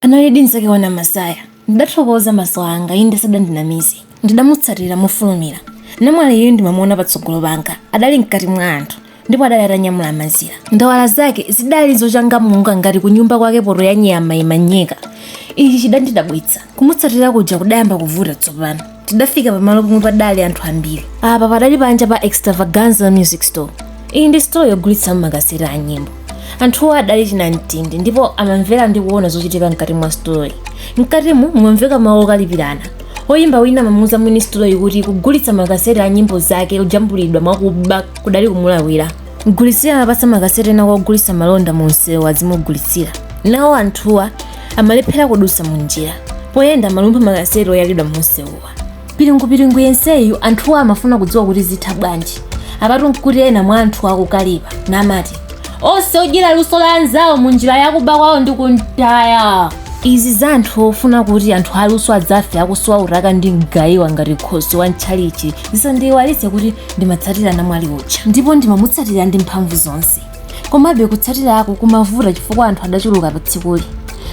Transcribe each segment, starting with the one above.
Analidi mnzake wa Namasaya. Ndidathokoza maso anga, inde sadandinamize. Ndidamutsatira mofulumira. Namwaliyu ndimamuona patsogolo panga. Adali mkati mwa anthu ndipo adali atanyamula mazira. Ndawala zake zidali zochangamuka ngati kunyumba kwake poto ya nyama imanyeka. Ichi chidandidabwitsa. Kumutsatira kuja kudayamba kuvuta tsopano. tidafika pamalo pomwe padali anthu ambiri apa padali panja pa extravaganza music store iyi ndi sitolo yogulitsa makaseti a nyimbo anthuwo adali chinamtindi ndipo amamvera ndi kuona zochitika mkati mwa sitoloyi mkatimu mumamveka mawu okalipirana oyimba wina amamuuza mwini sitoloyi kuti kugulitsa makaseti a nyimbo zake ojambulidwa mwakuba kudali kumulakwira mgulitsi uja amapatsa makaseti ena kwa ogulitsa malonda mu msewu azimugulitsira nawo anthuwa amalephera kudutsa mu njira poyenda amalumpha makaseti oyalidwa mumsewuwa piringupiringu yenseyu anthuwa amafuna kudziwa kuti zitha bwanji apatu nkuti ena mwa anthu akukalipa namati onse odyera luso la anzawo mu njira yakuba kwawo ndi kumtaya izi za anthu ofuna kuti anthu aluso adzafe akusowa utaka ndi mgayiwa ngati khoswe wa mtchalitchi zisandiiwalitse kuti ndimatsatira namwali uja ndipo ndimamutsatira ndi mphamvu zonse komabe kutsatiraku kumavuta chifukwa anthu adachuluka pa tsikuli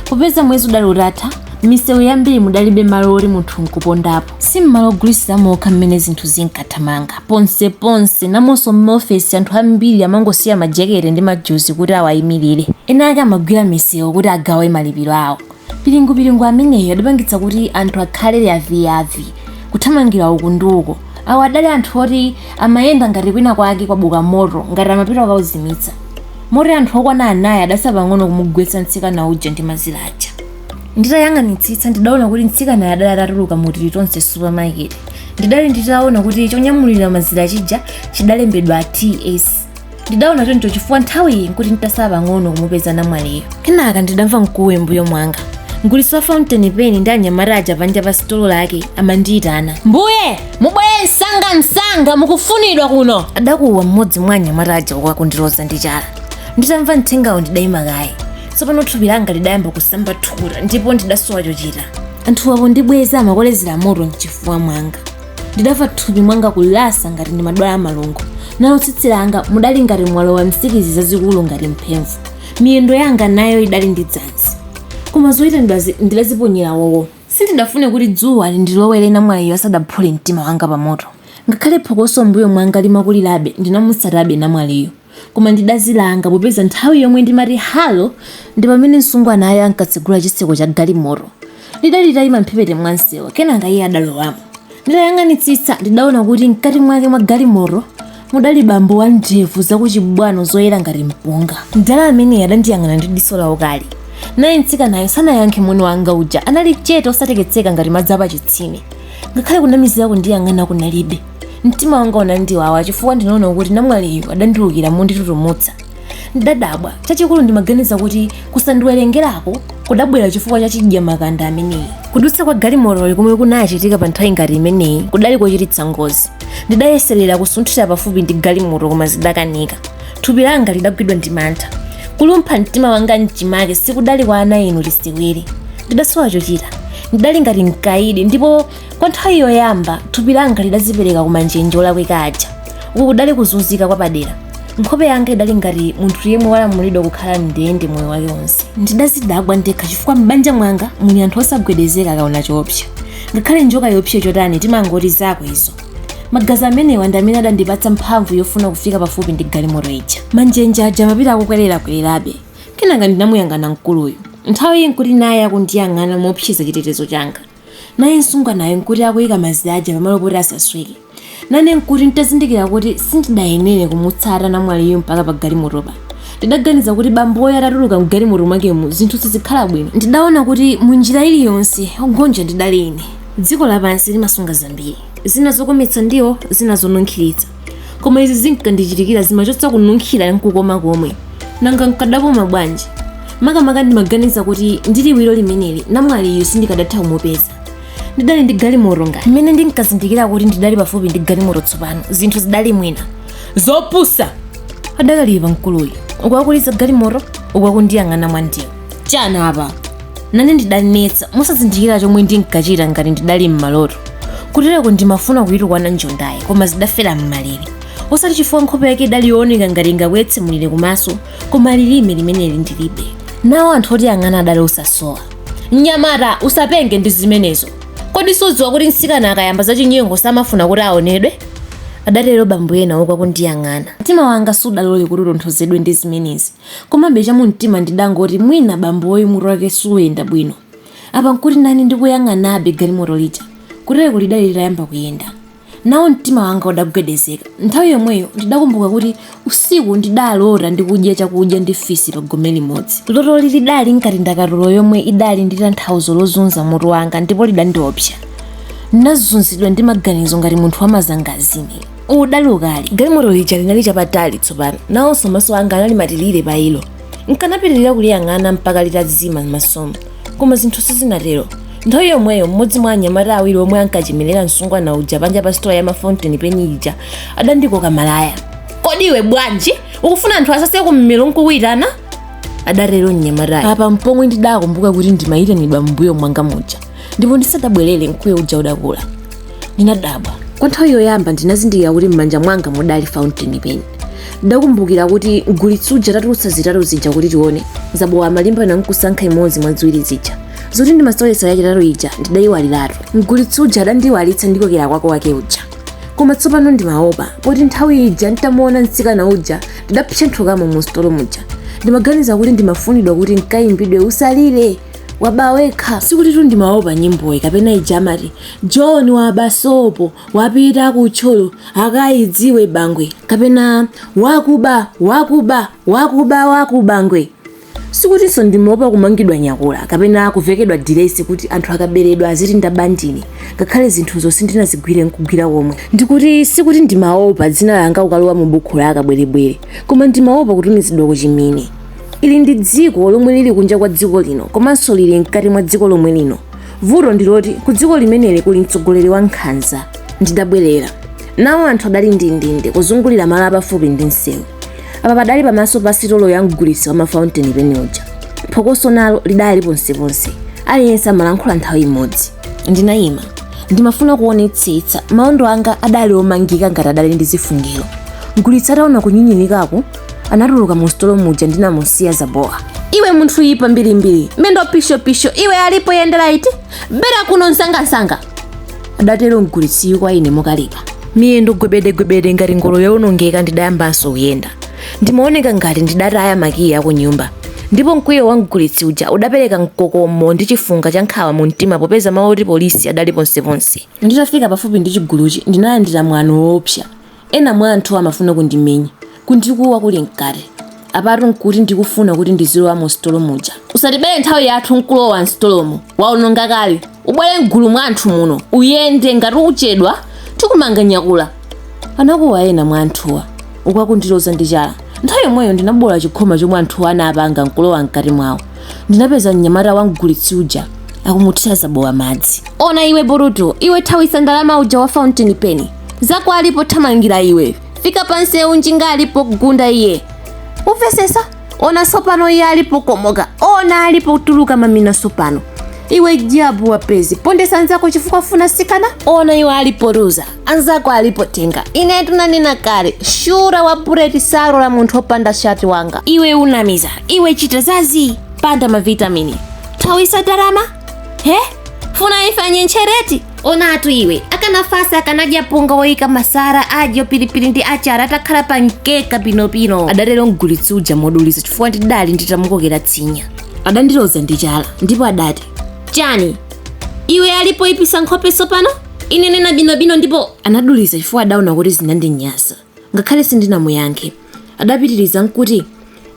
popeza mwezi udali utatha misewu yambiri mudalibe malo oti munthu nkupondapo si mmalo ogulitsira mokha mmene zinthu zinkathamanga ponseponse namonso m'maofesi anthu ambiri amangosiya majekete ndi majuzi kuti awayimirire kenaka amagwira misewu kuti agawe malipiro awo piringupiringu ameneyo adapangitsa kuti anthu akhale yaviyavi kuthamangira uku ndi uko awo adali anthu oti amayenda ngati kwina kwake kwabuka moto ngati amapita kukauzimitsa moti anthu okwana anayi adatsala pang'ono kumugwetsa mtsikana uja ndi mazira aja nditayang'anitsitsa ndidaona kuti mtsikanayo adali atatuluka mu tilitonse supermarket ndidali nditaona kuti chonyamulira mazira chija chidalembedwa ts ndidaona choncho chifukwa nthawiyi nkuti nditatsala pang'ono kumupeza namwaliyo kenaka ndidamva mkuwe mbuyo mwanga mgulitsi wa fountain pen ndi anyamata aja panja pa sitolo lake amandiyitana mbuye mubwere msanga msanga mukufunidwa kuno adakuwa mmodzi mwa anyamata aja uku akundiloza ndi chala nditamva mthengawo ndidayima kaye tsopano thupi langa lidayamba kusamba thukuta ndipo ndidasowa chochita anthu apo ndibweza amakolezera moto mchifuwa mwanga ndidamva thupi mwanga kulasa ngati ndimadwala malungo nalo tsitsi langa mudali ngati mwalowa nsikidzi zazikulu ngati mphemvu miyendo yanga nayo idali ndi dzanzi koma zoyitanidwazi ndidaziponyera wowo sindidafune kuti dzuwa lindilowere namwaliyo asadaphule mtima wanga pamoto ngakhale phokoso mbuyo mwanga limakulirabe ndinamutsatabe namwaliyo Koma ndidazilanga popeza nthawi yomwe ndimati Hallo ndi pamene msungwanayo ankatsegula chitseko cha galimoto. Lidali litaima m'mphepete mwa msewu, kenaka iye adalowamo. Nditayang'anitsitsa, ndidaona kuti mkati mwake mwa galimoto mudali bambo wa ndevu zakuchibwano zoyera ngati mpunga. Mdala ameneyo adandiyang'ana ndi diso laukali. Naye mtsikanayo sanayankhe moni wanga uja. Anali chete osateketseka ngati madzi apachitsime. Ngakhale kunamizira kundiyang'ana kunalibe. mtima wanga unandiwawa chifukwa ndinaona kuti namwaliyu adandiukira monditutumutsa ndidadabwa chachikulu ndimaganiza kuti kusandiwerengerako kudabwera chifukwa cha chidyamakanda ameneyi kudutsa kwa galimotoli komwe kunachitika pa nthawi ngati imeneyi kudali kochititsa ngozi ndidayeserera kusunthira pafupi ndi galimoto koma zidakanika thupi langa lidagwidwa ndi mantha kulumpha mtima wanga mchimake sikudali kwa ana inu lisiwiri ndidasowa chochita ndidali ngati mkaidi ndipo kwa nthawi yoyamba thupi langa lidazipereka kumanjenje olakwika aja uku kudali kuzunzika kwapadera nkhope yanga idali ngati munthu yemwe walamulidwa kukhala mndende moyo wake wonse ndidazidabwa ndekha chifukwa m'banja mwanga muli anthu osagwedezeka akaona choopsa ngakhale njoka yoopsa chotani timangoti zako izo magazi amenewa ndi amene adandipatsa mphamvu yofuna kufika pafupi ndi galimoto ija manjenje aja amapita akukwererakwererabe kenaka ndinamuyang'ana mkuluyu nthawi iyi nkuti naye akundiyang'ana moopseza chitetezo changa Naye msungwanayo n'kuti akuika mazira aja pamalo poti asasweke. Nane n'kuti nditazindikira kuti sindidayenere kumutsata namwaliyu mpaka pagalimotopa. Ndidaganiza kuti bamboyo atatuluka m'galimoto mwakemu zinthu sizikhala bwino. Ndidaona kuti munjira iliyonse, wogonja ndidali ine. Dziko lapansi limasunga zambiri. Zina zokometsa ndiwo, zina zonunkhiritsa. koma izi zinkandichitikira zimachotsa kununkhira nkukoma komwe nanga nkadakoma bwanji makamaka ndimaganiza kuti ndi liwiro limeneli namwaliyu sindikadatha kumupeza ndidali ndi galimoto ngati mmene ndinkazindikira kuti ndidali pafupi ndi galimoto tsopano zinthu zidali mwina zopusa adakalipa mkuluyu uku akuliza galimoto uku akundiyang'ana mwandiwo chani apa nane ndidanetsa mosazindikira chomwe ndinkachita ngati ndidali m'maloto kutereko ndimafuna kuyitukwana njondayi koma zidafera m'malere osati chifukwa nkhope yake idali yooneka ngati ingabweretse mulire kumaso koma lilime limeneli ndilibe nawo anthu otiyang'ana adali osasowa mnyamata usapenge ndi zimenezo kodi sudziwa kuti mtsikana akayamba zachinyengo samafuna kuti aonedwe adatero bambo ena uku akundiyang'ana mtima wanga sudalole kuti utonthozedwe ndi zimenezi Komabe chamumtima ndidangoti mwina bamboyu mutu wake suyenda bwino. Apa nkuti nane ndikuyang'anabe galimoto lija. Kutereku lidali litayamba kuyenda. Nawo mtima wanga udagwedezeka. Nthawi yomweyo ndidakumbuka kuti usiku ndidalota ndikudya chakudya ndi fisi pa gome limodzi. Lotoli lidali ngati ndakatulo yomwe idali ndi tanthauzo lozunza mutu wanga ndipo lidandiopsa. Ndinazunzidwa ndi maganizo ngati munthu wamazangazime. udali ukali galimoto lija linali chapatali tsopano nawonso maso anga anali matilire pa ilo nkanapitirira kuliyang'ana mpaka litazima m'masomo koma zinthu sizinatero nthawi yomweyo mmodzi mwa anyamata awiri omwe ankachemerera msungwana uja panja pa sitola ya mafountain pen ija adandikoka malaya kodi iwe bwanji ukufuna anthu asase kummero nkukuitana adatero mnyamata apa mpomwe ndidakumbuka kuti ndimayitanidwa m'mbuyo mwanga muja ndipo ndisadabwerere mkuwo uja udakula ndinadabwa kwa nthawi yoyamba ndinazindikira kuti m'manja mwanga mudali fountain pen ndidakumbukira kuti mgulitsi uja atatulutsa zitatu zija kuti tione zabowa amalimbana nkusankha imodzi mwa ziwiri zija zoti ndimaseweretsa yachitatu ija ndidayiwaliratu mgulitsi uja adandiyiwalitsa ndi kokera kwako wake uja koma tsopano ndimaopa poti nthawi ija nditamuona mtsikana uja ndidapsenthukamo mu sitolo muja ndimaganiza kuti ndimafunidwa kuti nkayimbidwe usalire waba wekha sikutitu ndimaopa nyimboyi kapena ija amati John waba sopo wapita ku Thyolo akaidziwe bangwe kapena wakuba wakuba wakuba wakuba ngwe sikutinso ndimaopa kumangidwa nyakula kapena kuvekedwa diresi kuti anthu akaberedwa aziti ndaba ndine ngakhale zinthuzo sindinazigwire nkugwira komwe ndikuti sikuti ndimaopa dzina langa kukalowa mu bukhu la akabwerebwere koma ndimaopa kutumizidwa ku chimini ili ndi dziko lomwe lili kunja kwa dziko lino komanso lili mkati mwa dziko lomwe lino vuto ndiloti ku dziko limeneli kuli mtsogoleri wa nkhanza ndidabwerera nawo anthu adali ndindinde kuzungulira malo apafupi ndi msewu apa padali pamaso pa sitolo ya mgulitsi wa mafountain pen uja phokoso nalo lidali ponseponse aliyense amalankhula nthawi imodzi ndinayima ndimafuna kuonetsetsa maondo anga adali omangika ngati adali ndi zifungiro mgulitsi ataona kunyinyirikako anatuluka mu sitolo muja ndinamusiya zabowa iwe munthu yipa mbirimbiri mendo pishopisho iwe alipo yendera iti bera kuno msangamsanga adatero mgulitsi kwa ine mokalipa miyendo gwebedegwebede ngati ngolo yowonongeka ndidayambanso kuyenda ndimaoneka ngati ndidataya makiyi aku nyumba ndipo mkwiyo wa mgulitsi uja udapereka mkokomo ndi chifunga cha nkhawa mu mtima popeza mawu oti polisi adali ponseponse nditafika pafupi ndi chiguluchi ndinalandira mwano woopsa Ena mwa anthuwa amafuna kundimenya, kundikuwa kuli mkati. Apatu n'kuti ndikufuna kuti ndizilowa musitolo muja. Usatibere nthawi yathu n'kulowa m'sitolomu. Wawononga kale. Ubwere m'gulu mwa anthu muno, uyende! Ngati uchedwa, tikumanga nyakula! Anakuwa ena mwa anthuwa, uku akundiloza ndi chala. Nthawi yomweyo ndinaboola chikhoma chomwe anthuwa anapanga n'kulowa mkati mwawo. Ndinapeza mnyamata wa mgulitsi uja akumuthira Zabowa madzi. Ona iwe burutu iwe, thawitsa ndalama uja wa fountain pen! zako ali pothamangira iwe fika pansewu njinga alipo kugunda iye umvesesa ona sopano iye ali pokomoka ona ali potuluka mamina sopano iwe jabu wapezi pondesa anzako chifukwa funa sikana ona iwe ali poruza anzako ali potenga ine tunanena kale shura wa bureti saro la munthu opanda shati wanga iwe unamiza iwe chita zazi panda mavitamini thawisa darama he funa ifanye ntchereti onatu iwe akanafasa akanadya punga woyika masara adyo pilipili ndi achara atakhala pa mkeka pinopino adatero mgulitsi uja moduliza chifukwa ndidali nditamukokera tsinya adandiloza ndi chala ndipo adati chani iwe alipo ipisa nkhope sopano ine nena binobino ndipo anaduliza chifukwa adaona kuti zinandinyasa ngakhale sindinamuyankhe adapitiriza nkuti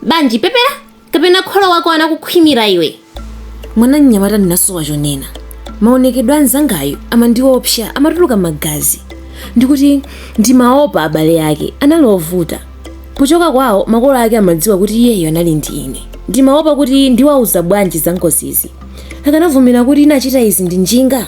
banji pepera kapena kholo wako anakukhwimira iwe mwana mnyamata ndinasowa chonena maonekedwe a mnzangayo amandiopsa amatuluka magazi ndikuti ndimaopa abale ake anali ovuta pochoka kwawo makolo ake amadziwa kuti iyeyo anali ndi ine ndimaopa kuti ndiwauza bwanji za ngozizi akanavumira kuti inachita izi ndi njinga